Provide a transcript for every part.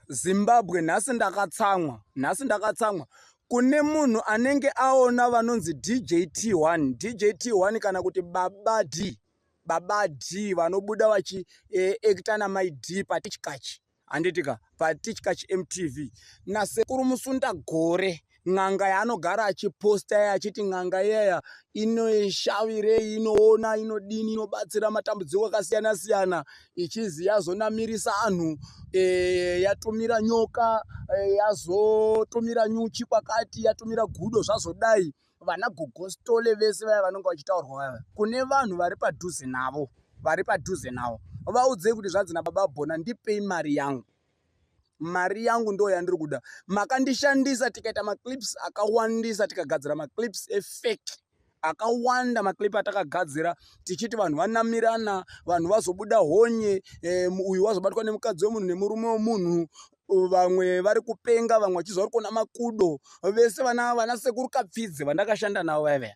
Zimbabwe nhasi ndakatsamwa nhasi ndakatsamwa kune munhu anenge aona vanonzi DJT1 DJT1 kana kuti baba D baba D vanobuda vachi eh, actor na mai D patichkachi handitika patichkachi MTV nasekuru musunda gore n'anga yaanogara achiposta iya achiti n'anga iyaya inoshavirei inoona inodini inobatsira matambudziko akasiyana siyana ichizi yazonamirisa anhu e, yatumira nyoka e, yazotumira nyuchi kwakati yatumira gudo zvazodai vana gogostole vese vaya vanonge vachitaurwa vaya kune vanhu vari padhuze navo vari padhuze navo vaudzei kuti zvanzi nababa bhona ndipei mari yangu mari yangu ndo yandiri kuda makandishandisa tikaita maclips akawandisa tikagadzira maclips efake akawanda maclip atakagadzira tichiti vanhu vanamirana vanhu vazobuda honye e, uyu wazobatwa nemukadzi wemunhu nemurume wemunhu vamwe vari kupenga vamwe vachiziva vari kuona makudo vese vana vana sekuru kapfidze vandakashanda navo vaiveya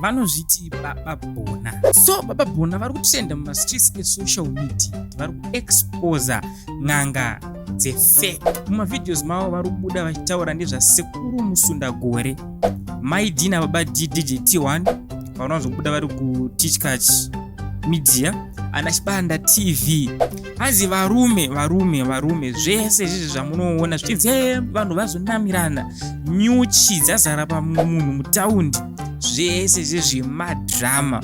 vanozviti baba bona so baba bona vari kutrenda mumastreets esocial media vari kuexposa n'anga dzefek mumavideos mavo vari kubuda vachitaura nezvasekuru musunda gore mai dina baba ddgt1 vanozobuda vari kutichkach media ana chibanda tv hanzi varume varume varume zvese izvizvi zvamunoona zvichinzi eh, vanhu vazonamirana nyuchi dzazara pamunhu mutaundi zvese izvizvi madhirama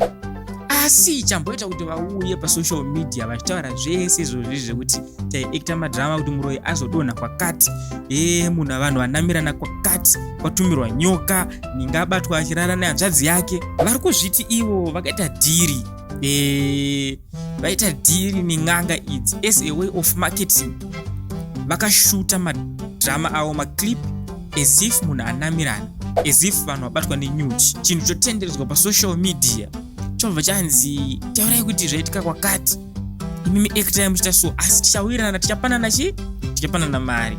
asi chamboita kuti vauye pasocial media vachitaura zvese izvozvi zvekuti taiekta madhirama kuti muroyi azodonha kwakati e munhu avanhu vanamirana kwakati kwatumirwa nyoka ninga abatwa achirara nehanzvadzi yake vari kuzviti ivo vakaita dhiri eh, vaita e, dhiri nen'anga idzi as a way of marketing vakashuta madrama avo maclip as if munhu anamirana as if vanhu vabatwa nenyuchi chinhu chotenderedzwa pasocial media chobva chanzi taurai kuti zvaitika kwakati imimi actai muchita so asi tichawirirana tichapanana chi tichapanana mari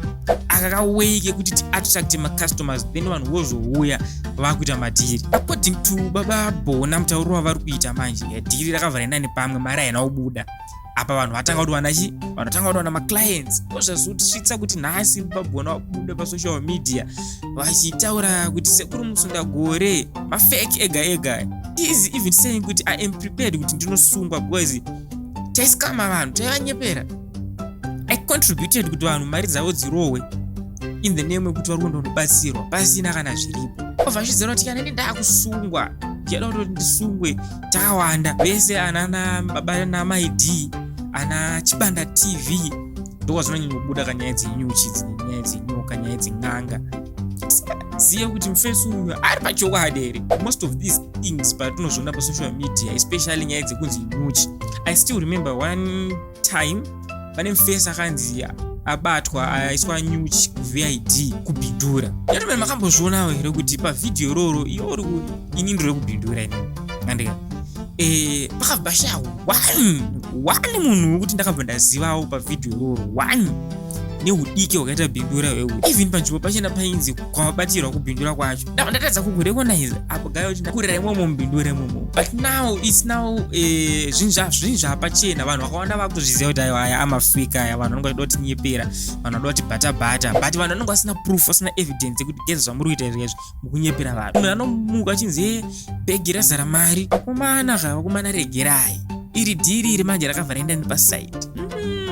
akakawei kekuti tiattracte macustomers then vanhu vozouya vakuita madhiri according to baba bona mutauro wavari kuita manje dhiri rakavhara inani pamwe mari haina kubuda apa vanhu vatanga kutiwana chi vanhu vatanga kutiwana maclients ozvazvotisvitsa kuti nhasi babona vabuda pasocial media vachitaura kuti sekuru musunda gore mafake ega ega is even saying kuti i am prepared kuti ndinosungwa because taisikama vanhu taivanyepera i contributed kuti vanhu mari dzavo dzirohwe in the name yekuti vari kuenda kunobatsirwa pasina kana zviripo obva zviziva kuti kana ini ndakusungwa ndichada kutoti ndisungwe takawanda vese ana nababa namai d ana chibanda tv ndokwazvinonyanyobuda kanyaya dzenyuchi dzine nyaya dzenyoka nyaya dzen'anga zive kuti mufesi uyu ari pachokwadi here most of these things patinozviona pasocial media especially nyaya dzekunzi nyuchi i still remember one time pane mufesi akanzi abatwa aiswa nyuchi kuvid kubhindura yatomene makambozvionawo here kuti pavhidhiyo iroro iyo ri ini ndiri kubhindura ini andika eh, pakabva sha one one munhu wekuti ndakabva ndazivawo pavhidhiyo iroro one neudiki hwakaita bhindura hweu even panzvimbo pachena painzi kwavabatirwa kubhindura kwacho ndava ndatadza kukurecognize apo gaya kuti ndakurira imomo mbindure imomo but now its now eh, zvinhu zvazvinhu zvapachena vanhu vakawanda vakutozviziva kuti aiwa aya amafika aya vanhu vanonga vachida kuti nyepera vanhu vanoda kuti bhata bhata but vanhu vanonga vasina proof vasina evidence yekuti geza zvamuri kuita izvi izvi mukunyepera vanhu munhu anomuka achinzi e bhegi razara mari vakomana zvava kumana regerai iri dhiri iri manje rakavhara enda nepasaidi mm.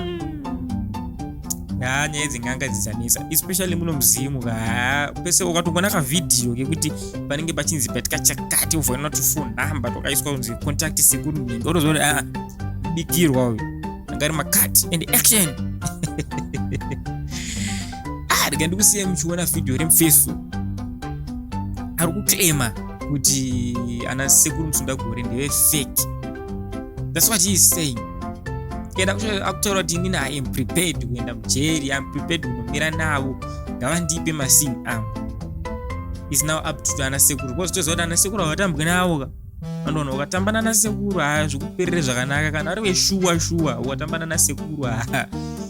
haa nyaya idzi nganga dzidzanetsa especially muno muzimu haa pese ukatongona kavhidhiyo kekuti panenge pachinzi patika chakati uvoina kuti phone number twakaiswa kunzi contact sekuru nhingi otozoona kuti aa bikirwa uyu anga ari makati and action ah rega ndikusiya muchiona vhidhiyo remufesu ari kuclaima kuti ana sekuru musundagore ndeve fake that's what he is saying kenda akutaura kuti inini i am prepared kuenda mujeri i am prepared kunomira navo ngavandipe masini angu is now up to ana sekuru bcause toziva kuti ana sekuru havatambwe navo ka vandoona ukatamba nana sekuru haa zvikuperere zvakanaka kana ari veshuwa shuwa ukatamba nana sekuru haa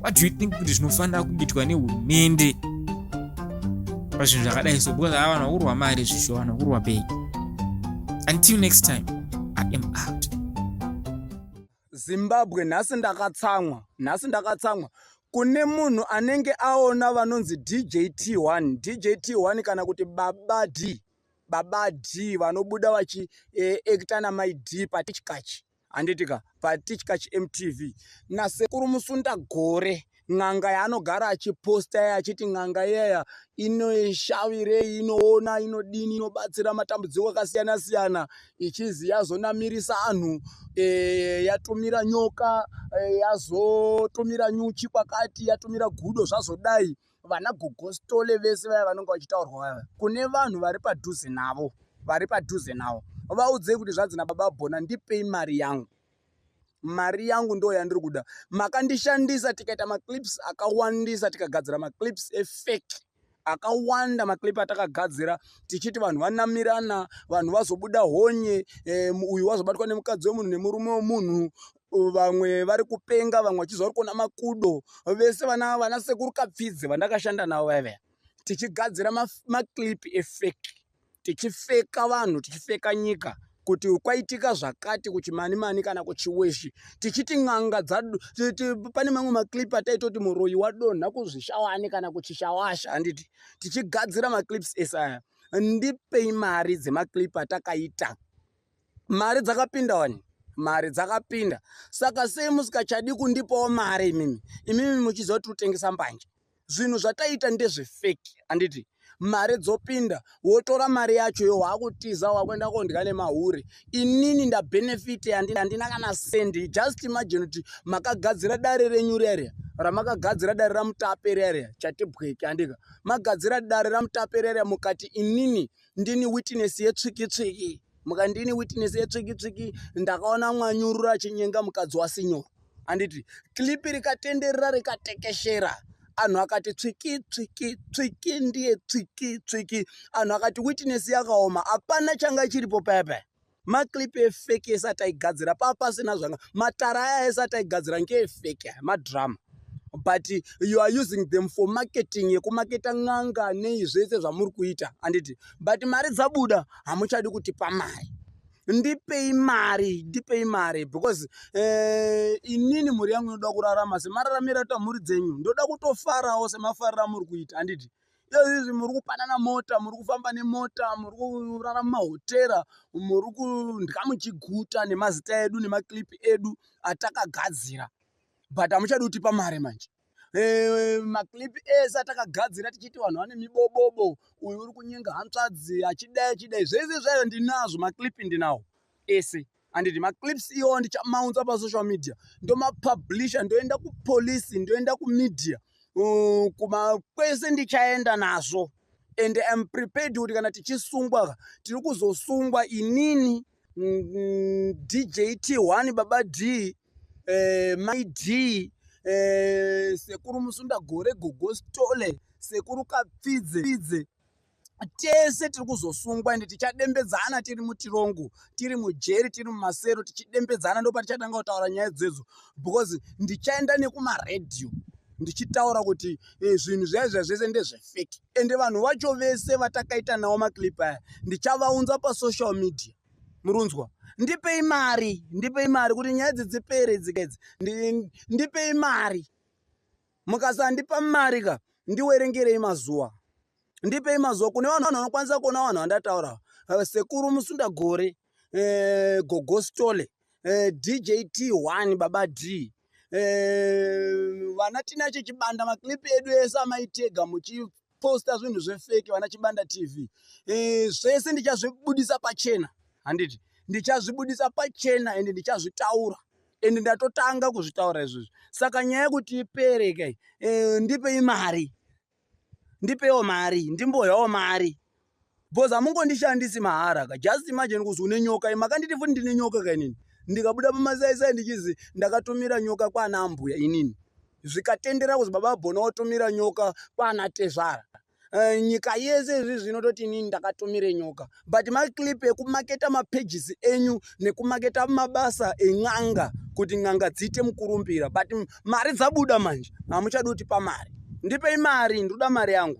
what do you think kuti zvinofanira kuitwa nehurumende pazvinhu zvakadai so because ava vana kurwa mari zvisho vana kurwa pei until next time i am out zimbabwe nhasi ndakatsamwa nhasi ndakatsamwa kune munhu anenge aona vanonzi djt1 djt1 kana kuti baba d baba d vanobuda vachiekta eh, namai d patichikachi Handiti ka patitya chiMTV nasekuru Musunda gore n'anga yaanogara achiposta iya achiti n'anga iyaya inoshavirei inoona inodini inobatsira matambudziko akasiyana siyana ichizi yazonamirisa anhu e, yatumira nyoka e, yazotumira nyuchi kwakati yatumira gudo zvazodai vana gogostole vese vaya vanenge vachitaurwa vaya kune vanhu vari padhuze navo vari padhuze navo vaudzei kuti zvanzi nababa bona ndipei mari yangu mari yangu ndo yandiri kuda makandishandisa tikaita maclips akawandisa tikagadzira maclips efake akawanda maclip atakagadzira tichiti vanhu vanamirana vanhu vazobuda honye um, uyu wazobatwa nemukadzi wemunhu nemurume wemunhu vamwe vari kupenga vamwe vachizi vari kuona makudo vese vana vana sekuru kapfidze vandakashanda navo vaiveya tichigadzira maclip efeki tichifeka vanhu tichifeka nyika kuti kwaitika zvakati kuchimani mani kana kuchiweshi tichiti n'anga pane mamwe maclip ataitoti muroyi wadonha kuzvishawani kana kuchishawasha handiti tichigadzira maclips esaya ndipei mari dzemaclip atakaita mari dzakapinda wani mari dzakapinda saka sei musikachadi kundipawo mari imimi imimi muchiziva tiri kutengesa mbanje zvinhu zvataiita ndezvefeki handiti mari dzopinda wotora mari yacho yo wakutiza wakuenda kondya nemahure inini ndabenefit handina kana sendi just imagine kuti makagadzira dare renyu riaria ramakagadzira dare ramutape riaria chatibweke handika magadzira dare ramutape riaria mukati inini ndini witness yetsvikitsviki muka ndini witness yetsvikitsviki ndakaona mwanyurura achinyenga mukadzi wasinyoro handiti klipi rikatenderera rikatekeshera anhu akati tsviki tsviki tsviki ndiye tsviki tsviki anhu akati witness yakaoma hapana changa chiripo paya paya Maclip efake ese ataigadzira pava pasina zvanga matara aya ese ataigadzira ngeefake aya madrama but you are using them for marketing yekumaketa n'anga nei zvese zvamuri kuita handiti but mari dzabuda hamuchadi kuti pamari ndipei mari ndipei mari because eh, inini mhuri yangu inoda kurarama semararamira tamhuri dzenyu ndoda kutofarawo semafarira amuri kuita handiti izvi muri kupanana mota muri kufamba nemota muri kurara mumahotera muri kundya muchiguta nemazita edu nemaclip edu atakagadzira but hamuchadi kutipa mari manje Eh, maclip ese atakagadzira tichiti vanhu vane mibobobo uyu uri kunyenga hantsvadzi achidai achidai zvese zvayo ndinazvo maclip ndinawo ese handiti maclips iwo ndichamaunza pasocial media ndomapublisha ndoenda kupolisi ndoenda kumedia uh, kuma kwese ndichaenda nazvo and am prepared kuti kana tichisungwa tiri kuzosungwa inini mm, dj t1 baba d eh, my d eh, sekuru musunda gore gogostole sekuru kapfidze tese tiri kuzosungwa ende tichadembedzana tiri mutirongo tiri mujeri tiri mumasero tichidembedzana ndopatichatanga kutaura nyaya dzedzo because ndichaenda nekumaredhiyo ndichitaura kuti eh, zvinhu zvaizva zvese ndezvefeki ende vanhu vacho vese vatakaita nawo maclip aya ndichavaunza pasocial media murunzwa ndipei mari ndipei mari kuti nyaya idzi dzipere dzikaidzi ndipei mari mukasandipa mari ka ndiwerengerei mazuva ndipei mazuva kune vanhu vanhu vanokwanisa kuona vanhu vandataura eh, sekuru musunda gore eh, gogostole eh, djt one baba d vana tinacho chibanda maklipi edu ese amaitega muchi posta zvinhu zvefeki vana chibanda tv e, zvese ndichazvibudisa pachena handiti ndichazvibudisa pachena ende ndichazvitaura ende ndatotanga kuzvitaura izvozvi saka nyaya yekuti ipere kai e, ndipei mari ndipewo mari ndimboyawo mari Because hamungondishandisi mahara ka. Just imagine kuzi une nyoka iyi makanditi futi ndine nyoka ka inini. Ndikabuda pamasaisai ndichizi ndakatumira nyoka kwana ambuya inini. Zvikatendera kuzi baba Bona watumira nyoka kwana tezvara. Uh, nyika yese izvi zvinototi inini ndakatumire nyoka but maclip ekumaketa mapages enyu nekumaketa mabasa en'anga kuti n'anga dziite mukurumbira but mari dzabuda manje hamuchadi kuti pamari ndipei mari ndoda mari yangu